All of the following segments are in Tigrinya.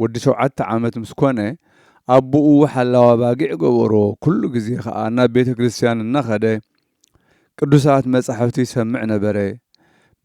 ወዲ ሸውዓተ ዓመት ምስ ኮነ፣ ኣቦኡ ሓላው ኣባጊዕ ገበሮ፣ ኩሉ ግዜ ከኣ ናብ ቤተ ክርስትያን እናኸደ ቅዱሳት መጻሕፍቲ ይሰምዕ ነበረ።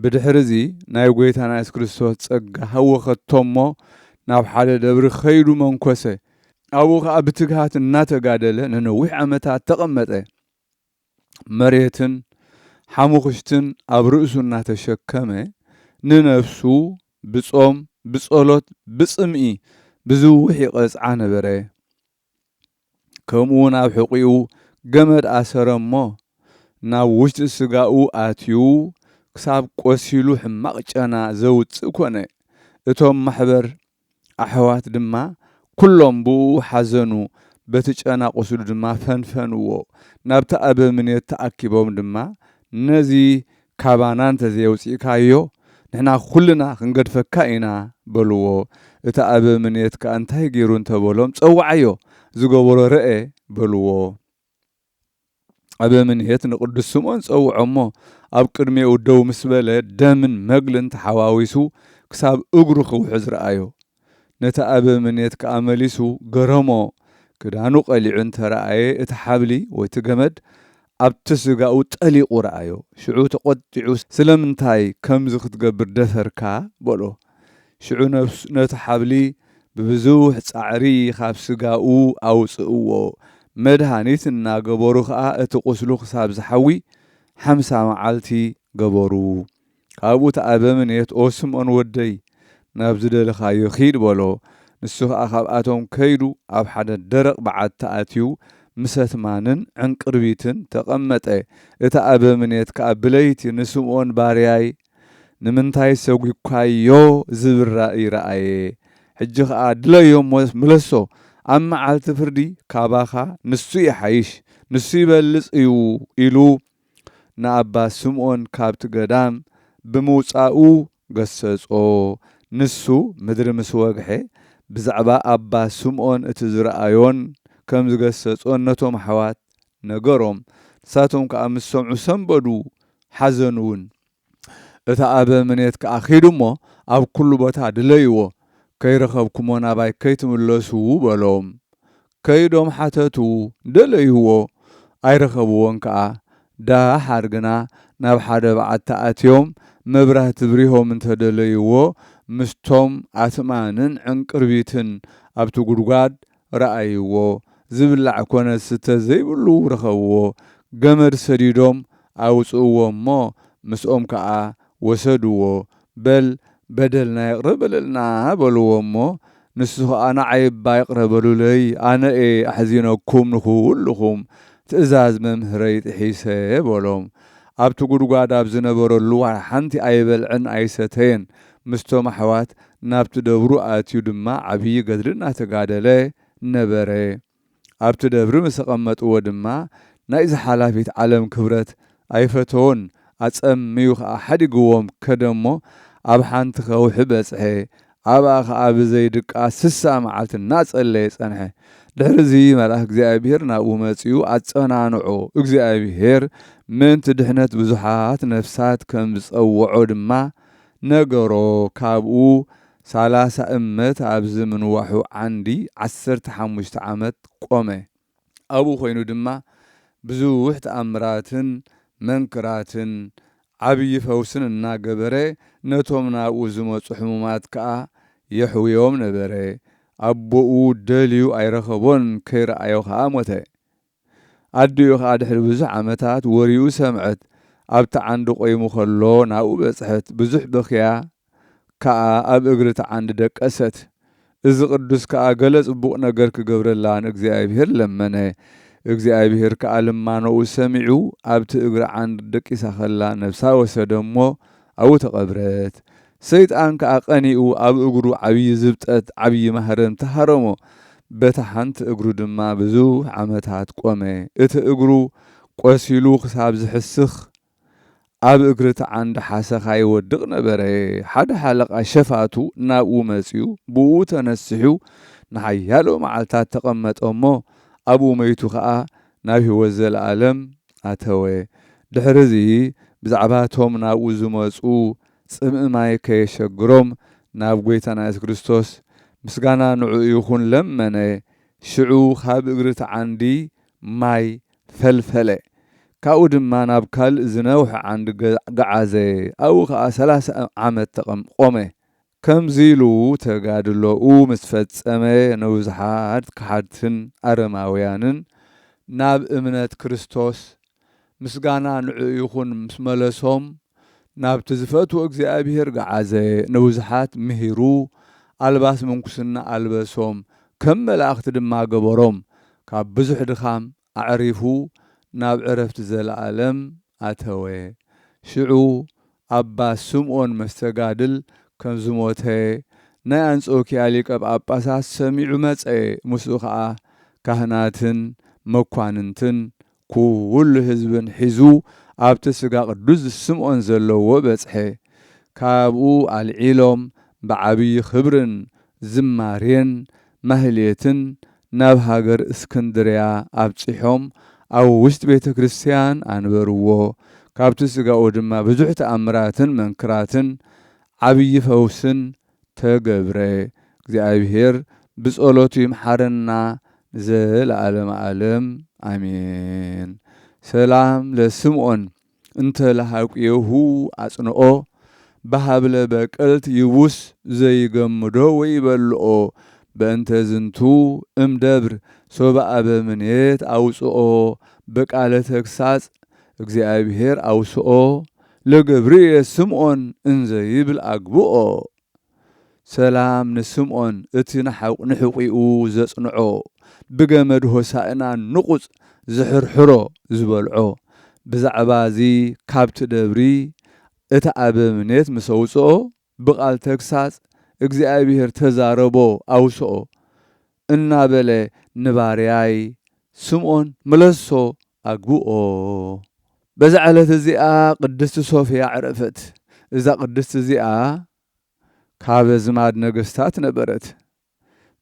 ብድሕርዚ ናይ ጐይታና የሱስ ክርስቶስ ጸጋ ሃወኸቶ እሞ ናብ ሓደ ደብሪ ከይዱ መንኰሰ። ኣብኡ ከኣ ብትግሃት እናተጋደለ ንነዊሕ ዓመታት ተቐመጠ። መሬትን ሓሙኽሽትን ኣብ ርእሱ እናተሸከመ ንነፍሱ ብጾም ብጸሎት ብጽምኢ ብዝውሕ ይቐጽዓ ነበረ። ከምኡውን ኣብ ሕቝኡ ገመድ ኣሰረ እሞ፣ ናብ ውሽጢ ስጋኡ ኣትዩ ክሳብ ቈሲሉ ሕማቕ ጨና ዘውጽእ ኰነ። እቶም ማሕበር ኣሕዋት ድማ ኵሎም ብእኡ ሓዘኑ፣ በቲ ጨና ቍስሉ ድማ ፈንፈንዎ። ናብቲ ኣበምኔት ተኣኪቦም ድማ፣ ነዚ ካባና እንተ ዘየውጺእካዮ፣ ንሕና ኵልና ኽንገድፈካ ኢና፣ በልዎ። እቲ ኣበምኔት ከኣ እንታይ ገይሩ እንተ በሎም፣ ጸውዓዮ፣ ዝገበሮ ርኣ፣ በልዎ። ዓበ ምንሔት ንቅዱስ ስምዖን ጸውዖ እሞ ኣብ ቅድሜኡ ደው ምስ በለ ደምን መግልን ተሓዋዊሱ ክሳብ እግሩ ክውሕዝ ረኣዮ። ነቲ ኣበ ምንየት ከኣ መሊሱ ገረሞ ክዳኑ ቀሊዑ እንተ ረኣየ እቲ ሓብሊ ወይ እቲ ገመድ ኣብቲ ስጋኡ ጠሊቁ ረኣዮ ሽዑ ተቆጢዑ ስለምንታይ ከምዚ ክትገብር ደፈርካ በሎ። ሽዑ ነቲ ሓብሊ ብብዙሕ ጻዕሪ ኻብ ስጋኡ ኣውጽእዎ፣ መድሃኒት እናገበሩ ኸኣ እቲ ቝስሉ ክሳብ ዚሓዊ ሓምሳ መዓልቲ ገበሩ። ካብኡ እቲ ኣበምኔት፣ ኦ ስምኦን ወደይ፣ ናብ ዝደለኻዮ ኺድ፣ በሎ። ንሱ ኸኣ ኻብኣቶም ከይዱ ኣብ ሓደ ደረቕ በዓቲ ኣትዩ ምሰት ማንን ዕንቅርቢትን ተቐመጠ። እቲ ኣበምኔት ከኣ ብለይቲ ንስምኦን ባርያይ፣ ንምንታይ ሰጒግካዮ ዝብል ራእይ ረኣየ። ሕጂ ኸኣ ድለዮ እሞ ምለሶ። ኣብ መዓልቲ ፍርዲ ካባኻ ንሱ ይሓይሽ፣ ንሱ ይበልጽ እዩ ኢሉ ንኣባ ስምኦን ካብቲ ገዳም ብምውጻኡ ገሰጾ። ንሱ ምድሪ ምስ ወግሐ ብዛዕባ ኣባ ስምኦን እቲ ዝረኣዮን ከም ዝገሰጾን ነቶም ኣሕዋት ነገሮም። ንሳቶም ከኣ ምስ ሰምዑ ሰንበዱ፣ ሓዘኑውን። እቲ ኣበ ምኔት ከኣ ኪዱ እሞ፣ ኣብ ኵሉ ቦታ ድለይዎ፣ ከይረኸብኩሞ ናባይ ከይትምለሱ፣ በሎም። ከይዶም ሓተቱ፣ ደለይዎ፣ ኣይረኸብዎን ከኣ። ደሓር ግና ናብ ሓደ በዓቲ ኣትዮም መብራህቲ ብሪሆም እንተ ደለይዎ፣ ምስቶም ኣትማንን ዕንቅርቢትን ኣብቲ ጕድጓድ ረኣይዎ፣ ዝብላዕ ኮነ ዝስተ ዘይብሉ ረኸብዎ፣ ገመድ ሰዲዶም ኣውጽእዎ እሞ ምስኦም ከኣ ወሰድዎ፣ በል በደልና ይቕረ በለልና በልዎ እሞ ንሱ ከኣ ንዓይ እባ ይቕረ በሉለይ ኣነ እየ ኣሕዚነኩም ንኹሉኹም ትእዛዝ መምህረይ ጥሒሰ በሎም ኣብቲ ጉድጓድ ኣብ ዝነበረሉ ዋላ ሓንቲ ኣይበልዐን ኣይሰተየን ምስቶም ኣሕዋት ናብቲ ደብሩ ኣትዩ ድማ ዓብዪ ገድሊ እናተጋደለ ነበረ። ኣብቲ ደብሪ ምስ ኣቐመጥዎ ድማ ናይዛ ሓላፊት ዓለም ክብረት ኣይፈተዎን፣ ኣጸምዩ ኸኣ ሓዲግዎም ከደ እሞ ኣብ ሓንቲ ከውሒ በጽሐ፣ ኣብኣ ኸኣ ብዘይ ድቃስ ስሳ መዓልቲ እናጸለየ ጸንሐ። ድሕርዚ መልኣክ እግዚኣብሄር ናብኡ መጺኡ ኣጸናንዖ፣ እግዚኣብሄር ምእንቲ ድሕነት ብዙሓት ነፍሳት ከም ዝጸውዖ ድማ ነገሮ ካብኡ ሳላሳ እመት ኣብዚ ምንዋሑ ዓንዲ ዓሰርተ ሓሙሽተ ዓመት ቆመ። ኣብኡ ኮይኑ ድማ ብዙሕ ተኣምራትን መንክራትን ዓብዪ ፈውስን እናገበረ ነቶም ናብኡ ዝመጹ ሕሙማት ከኣ የሕውዮም ነበረ። ኣቦኡ ደልዩ ኣይረኸቦን ከይረኣዮ ከኣ ሞተ። ኣዲኡ ከኣ ድሕሪ ብዙሕ ዓመታት ወሪኡ ሰምዐት ኣብቲ ዓንዲ ቆይሙ ከሎ ናብኡ በጽሐት ብዙሕ በክያ ከኣ ኣብ እግሪ እቲ ዓንዲ ደቀሰት እዚ ቅዱስ ከኣ ገለ ጽቡቅ ነገር ክገብረላ ንእግዚኣብሄር ለመነ እግዚኣብሄር ከኣ ልማኖኡ ሰሚዑ ኣብቲ እግሪ ዓንዲ ደቂሳ ከላ ነብሳ ወሰደ እሞ ኣብኡ ተቀብረት ሰይጣን ከኣ ቀኒኡ ኣብ እግሩ ዓብዪ ዝብጠት ዓብዪ ማህረምቲ ሃረሞ፣ በታ ሓንቲ እግሩ ድማ ብዙሕ ዓመታት ቆመ፣ እቲ እግሩ ቆሲሉ ክሳብ ዝሕስኽ ኣብ እግሪ እቲ ዓንዲ ሓሰኻ ይወድቕ ነበረ፣ ሓደ ሓለቓ ሸፋቱ ናብኡ መጺኡ ብእኡ ተነሲሑ ንሓያሎ መዓልታት ተቐመጠ እሞ ኣብኡ መይቱ ከኣ ናብ ህይወት ዘለኣለም ኣተወ፣ ድሕሪ እዚ ብዛዕባ እቶም ናብኡ ዝመጹ ጽምኢ ማይ ከየሸግሮም ናብ ጐይታና የሱስ ክርስቶስ ምስጋና ንዕኡ ይኹን ለመነ፣ ሽዑ ካብ እግሪ እቲ ዓንዲ ማይ ፈልፈለ፣ ካብኡ ድማ ናብ ካልእ ዝነውሐ ዓንዲ ገዓዘ፣ ኣብኡ ኸኣ ሰላሳ ዓመት ቖመ። ከምዚ ኢሉ ተጋድሎኡ ምስ ፈጸመ ንብዙሓት ከሓድትን ኣረማውያንን ናብ እምነት ክርስቶስ ምስጋና ንዕኡ ይኹን ምስ መለሶም ናብቲ ዝፈትዎ እግዚኣብሄር ገዓዘ፣ ንብዙሓት ምሂሩ ኣልባስ ምንኩስና ኣልበሶም፣ ከም መላእኽቲ ድማ ገበሮም፣ ካብ ብዙሕ ድኻም ኣዕሪፉ ናብ ዕረፍቲ ዘለኣለም ኣተወ። ሽዑ ኣባ ስምኦን መስተጋድል ከም ዝሞተ ናይ ኣንጾኪያ ሊቀ ጳጳሳት ሰሚዑ መጸ፣ ምስኡ ኸኣ ካህናትን መኳንንትን ኩሉ ህዝብን ሒዙ ኣብቲ ስጋ ቅዱስ ስምዖን ዘለዎ በጽሐ። ካብኡ ኣልዒሎም ብዓብዪ ኽብርን ዝማሬን ማህሌትን ናብ ሃገር እስክንድርያ ኣብጺሖም ኣብ ውሽጢ ቤተ ክርስቲያን ኣንበርዎ። ካብቲ ስጋኡ ድማ ብዙሕ ተኣምራትን መንክራትን ዓብዪ ፈውስን ተገብረ እግዚኣብሔር ብጸሎቱ ይምሓረና ንዘለዓለመ ዓለም ኣሜን ሰላም ለስምዖን እንተ ለሃቁየሁ ኣጽንኦ በሃብለ በቅልት ይቡስ ዘይገምዶ ወይበልኦ በእንተ ዝንቱ እም ደብር ሶበ ኣበ ምኔት ኣውጽኦ በቃለ ተግሳጽ እግዚኣብሔር ኣውስኦ ለገብርኤ ስምኦን እንዘ ይብል ኣግብኦ። ሰላም ንስምኦን እቲ ንሕቝኡ ዘጽንዖ፣ ብገመድ ሆሣእና ንቝጽ ዝሕርሕሮ ዝበልዖ። ብዛዕባ እዚ ካብቲ ደብሪ እቲ ኣበምኔት ምስ ኣውጽኦ ብቓል ተግሳጽ እግዚኣብሄር ተዛረቦ ኣውስኦ እናበለ ንባርያይ ስምኦን መለሶ ኣግብኦ። በዛ ዕለት እዚኣ ቅድስቲ ሶፍያ ዕረፈት። እዛ ቅድስቲ እዚኣ ካብ ኣዝማድ ነገስታት ነበረት።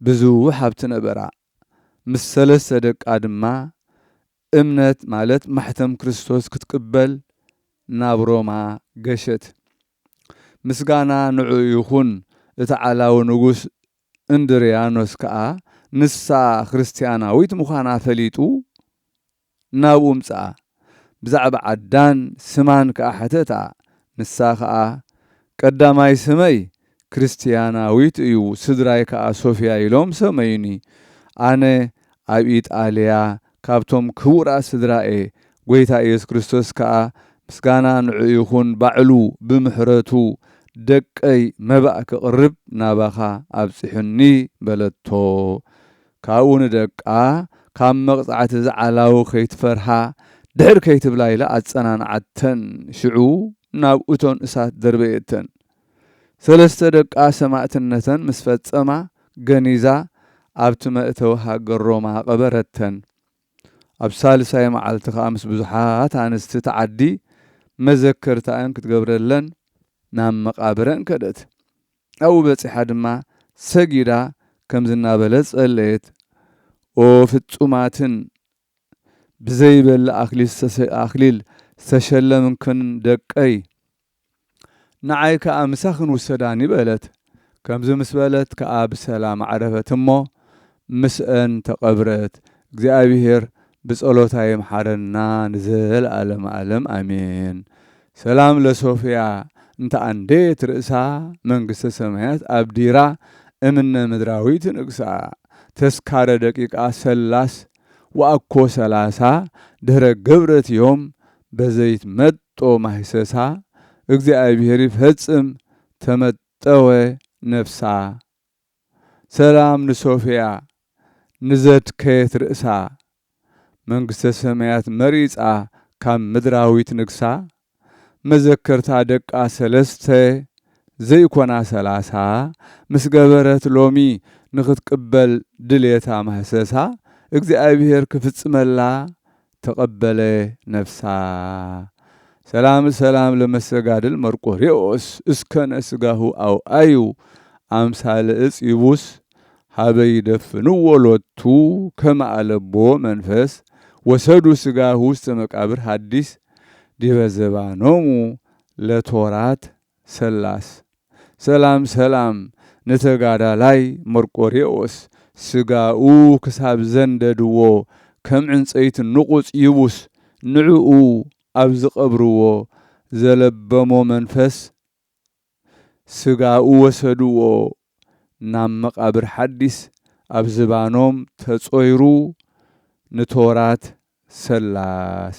ብዙሕ ሃብቲ ነበራ። ምስ ሰለስተ ደቃ ድማ እምነት ማለት ማሕተም ክርስቶስ ክትቅበል ናብ ሮማ ገሸት። ምስጋና ንዕኡ ይኹን፣ እቲ ዓላዊ ንጉስ እንድርያኖስ ከኣ ንሳ ክርስትያናዊት ምዃና ፈሊጡ ናብኡ ምጽኣ፣ ብዛዕባ ዓዳን ስማን ከኣ ሐተታ፣ ንሳ ከኣ ቀዳማይ ስመይ ክርስትያናዊት እዩ፣ ስድራይ ከኣ ሶፍያ ኢሎም ሰመዩኒ፣ ኣነ ኣብ ኢጣልያ ካብቶም ክቡራት ስድራ እየ ጎይታ ኢየሱስ ክርስቶስ ከኣ ምስጋና ንዕኡ ይኹን ባዕሉ ብምሕረቱ ደቀይ መባእ ክቕርብ ናባኻ ኣብጺሑኒ በለቶ ካብኡ ንደቃ ካብ መቕጻዕቲ እዚ ዓላዊ ከይትፈርሃ ድሕር ከይትብላ ኢላ ኣጸናንዓተን ሽዑ ናብ እቶን እሳት ደርበየተን ሰለስተ ደቃ ሰማእትነተን ምስ ፈጸማ ገኒዛ ኣብቲ መእተዊ ሃገር ሮማ ቀበረተን። ኣብ ሳልሳይ መዓልቲ ከኣ ምስ ብዙሓት ኣንስቲ እቲ ዓዲ መዘከርታኣን ክትገብረለን ናብ መቓብረን ከደት። ኣብኡ በጺሓ ድማ ሰጊዳ ከምዚ እናበለት ጸለየት፣ ኦ ፍጹማትን ብዘይበል ኣኽሊል ዝተሸለምክን ደቀይ፣ ንዓይ ከኣ ምሳኽን ውሰዳኒ በለት። ከምዚ ምስ በለት ከኣ ብሰላም ኣዕረፈት እሞ ምስኣን ተቐብረት። እግዚኣብሔር ብጸሎታ ይምሓረና ንዘለዓለመ ዓለም ኣሜን። ሰላም ለሶፍያ እንተ ኣንደየት ርእሳ መንግስተ ሰማያት ኣብዲራ እምነ ምድራዊት ንግሳ ተስካረ ደቂቃ ሰላስ ወኣኮ ሰላሳ ድህረ ገብረት ዮም በዘይትመጦ ማህሰሳ እግዚኣብሔር ይፈጽም ተመጠወ ነፍሳ ሰላም ንሶፍያ ንዘድከየት ርእሳ መንግስተ ሰማያት መሪጻ ካብ ምድራዊት ንግሳ መዘከርታ ደቃ ሰለስተ ዘይኮና ሰላሳ ምስ ገበረት ሎሚ ንኽትቅበል ድሌታ ማህሰሳ እግዚኣብሔር ክፍጽመላ ተቐበለ ነፍሳ ሰላም ሰላም ለመሰጋድል መርቆሬዎስ እስከነ ስጋሁ ኣውኣዩ ኣምሳለ እፅ ይቡስ ሀበ ይደፍንዎ ሎቱ ከመ ኣለቦ መንፈስ ወሰዱ ስጋሁ ውስተ መቃብር ሀዲስ ዲበ ዘባኖሙ ለቶራት ሰላስ። ሰላም ሰላም ንተጋዳላይ መርቆሬዎስ ስጋኡ ክሳብ ዘንደድዎ ከም ዕንጸይቲ ንቑጽ ይቡስ ንዕኡ ኣብ ዝቀብርዎ ዘለበሞ መንፈስ ስጋኡ ወሰድዎ ናብ መቃብር ሓዲስ ኣብ ዝባኖም ተጾይሩ ንቶራት ሰላስ።